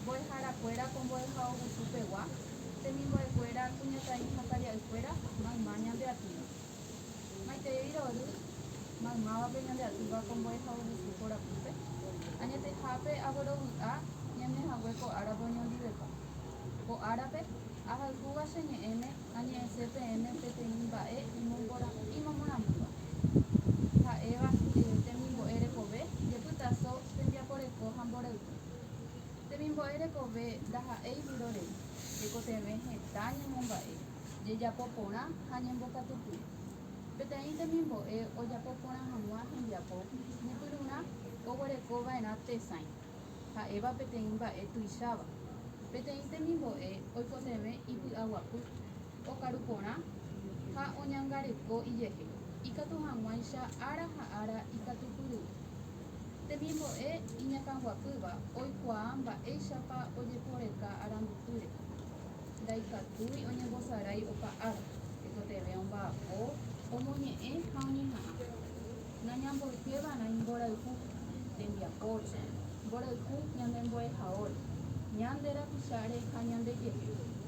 Mbo'eharakuéra ko mbo'ehaogusu pegua, temimbo'ekuéra, kuñataĩ ha taria'ykuéra, mayma ñande atýva. Maitei rory maymávape ñande atýva ko mbo'ehaogusu korapýpe, añetehápe aguerovy'a ñane hague ko árape oñondivepa. Ko árape, ahayhúva che ñe'ẽme añe'ẽse peẽme peteĩ mba'e imomorãmýva, ha'éva temimbo'e rekove, jepytaso, tembiaporeko ha mborayhu. Temimbo'e rekove ndaha'éi viro rei, tekotevẽ heta ñemomba'e, jejapo porã ha ñembokatupy. Peteĩ temimbo'e ojapo porã hag̃ua hembiapo ñepyrurã oguereko va'erã tesãi, ha'éva peteĩ mba'e tuicháva. Peteĩ temimbo'e oikotevẽ ipy'aguapy, okaru porã ha oñangareko ijehe, ikatu hag̃uáicha ára ha ára ikatupyryry. Temimbo'e iñakãguapýva oikuaa mba'éichapa ojeporeka arandupýre. Ndaikatúi oñembosarái opa ára, tekotevẽ omba'apo, omoñe'ẽ ha oñeha'ã. Nañamboykéva'erã imborayhu tembiapóre, mborayhu ñane mbo'ehaóre, ñande rapicháre ha ñande jepy.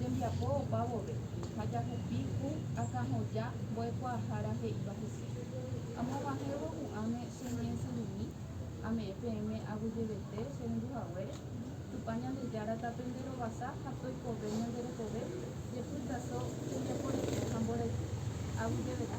tembiapo opa vove, ha jahupi ku akãhoja mbo'ekuaahára he'íva hese. Amoguahẽvo hu'ãme che ñe'ẽsyrumi, ame'ẽ peẽme aguyjevete che rendu haguére, Tupã Ñandejára tapende rovasa ha toikove ñande rekove jepy taso tembiaporeko ha mborayhu, aguyjevete.